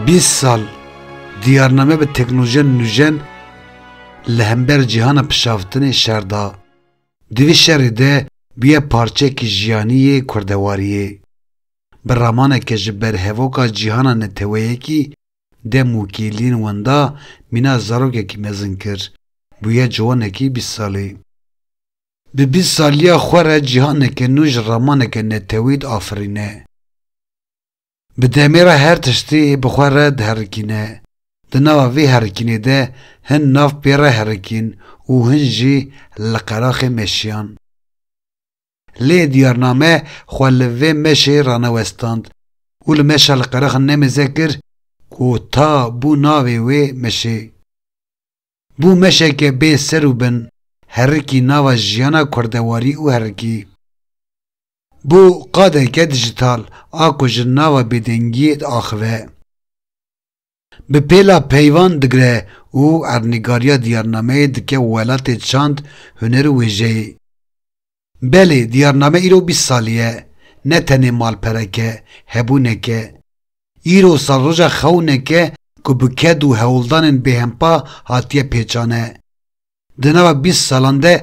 Bîst sal diyarname bi teknolojiya nûjen li hember cîhana pişavtinê şer da. Di vî şerê de bûye parçeyekî jiyanî yê kurdewariyê. Bi ramaneke ji berhevoka cîhana neteweyekî Dem û kêliyên wenda mîna zarokekî mezin kir. Bûye ciwanekî bîst salî. Di bîst saliya xwe re cîhaneke nû ji ramaneke netewî diafirîne. Bi demê re her tiştî bi xwe re diherikîne. Di nava vê herikînê de hin nav pê re herikîn û hin jî li qeraxê meşiyan. Lê diyarname xwe li vê meşê ranewestand û li meşa li qeraxan nemeze kir ku ta bû navê wê meşê. Bû meşeke bê ser û bin, herikî nava jiyana kurdewarî û herikî. Bû qadeke dijital a ku ji nava bêdengiyê diaxive. Bi pêla peyvan digre û ernîgariya diyarnameyê dike welatê çand, huner û wêjeyê. Belê, diyarname îro bîst salî ye, ne tenê malperek e, hebûnek e. Îro salroja xewnek e ku bi ked û hewldanên bêhempa hatiye pêçane. Di nava bîst salan de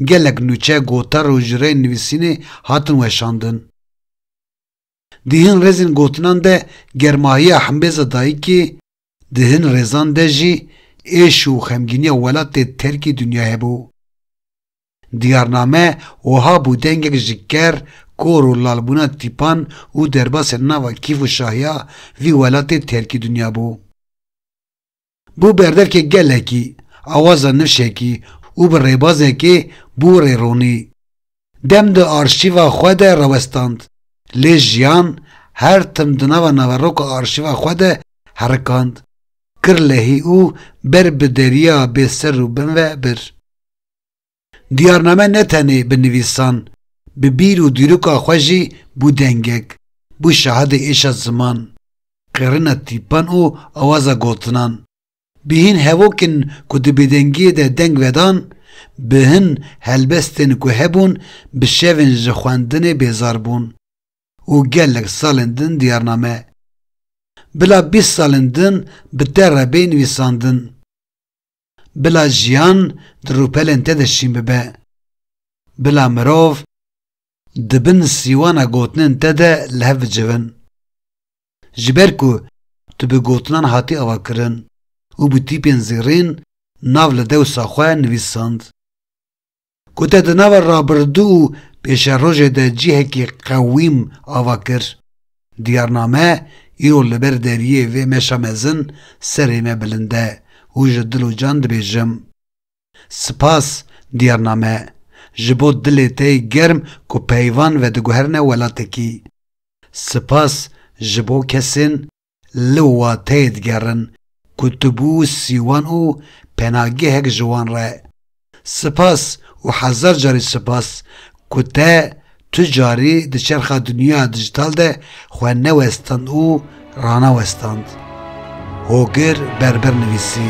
gelek nûçe, gotar û ji rê nivîsînê hatin weşandin. Di hin rêzên gotinan de germahiya himbêza dayikê, di hin rêzan de jî êş û xemgîniya welatê terkî dinyayê bû. Diyarname wiha bû dengek ji ker, kor û lalbûna tîpan û derbasên nava kîf û şahiya vî welatê terkî dinya bû. Bû berdevkê gelekî, awaza nişekî û bi rêbazekê bû rêronî. Dem di arşîva xwe de rewestand. Lê jiyan her tim di nava naveroka arşîva xwe de herikand, kir lehî û ber bi deriya bê ser û bin ve bir. Diyarname ne tenê bi nivîsan, bi bîr û dîroka xwe jî bû dengek, bû şahidê êşa ziman, qêrina tîpan û awaza gotinan. Bi hîn hevokên ku di bêdengiyê de deng vedan, bi hin helbestên ku hebûn bi şevên ji xwendinê bêzar bûn û gelek salên din diyarname, bila bîst salên din bi te re bê nivîsandin. Bila jiyan di rûpelên te de şîn bibe. Bila mirov di bin sîwana gotinên te de li hev bicivin. Ji ber ku tu bi gotinan hatî avakirin û bi tîpên zêrîn nav li dewsa xwe nivîsand. Ku te di nava rabirdû û pêşerojê de cihekî qewîm ava kir, diyarname îro li ber deriyê vê meşa mezin serê me bilind e û ji dil û can dibêjim, Sipas diyarname, ji bo dilê te yê germ ku peyvan vediguherine welatekî. Sipas ji bo kesên li wateyê digerin ku tu bû sîwan û penagehek ji wan re. Sipas û hezar carî sipas ku te tu carî di çerxa dinyaya dijital de xwe newestand û ranewestand. Hogir Berber nivîsî.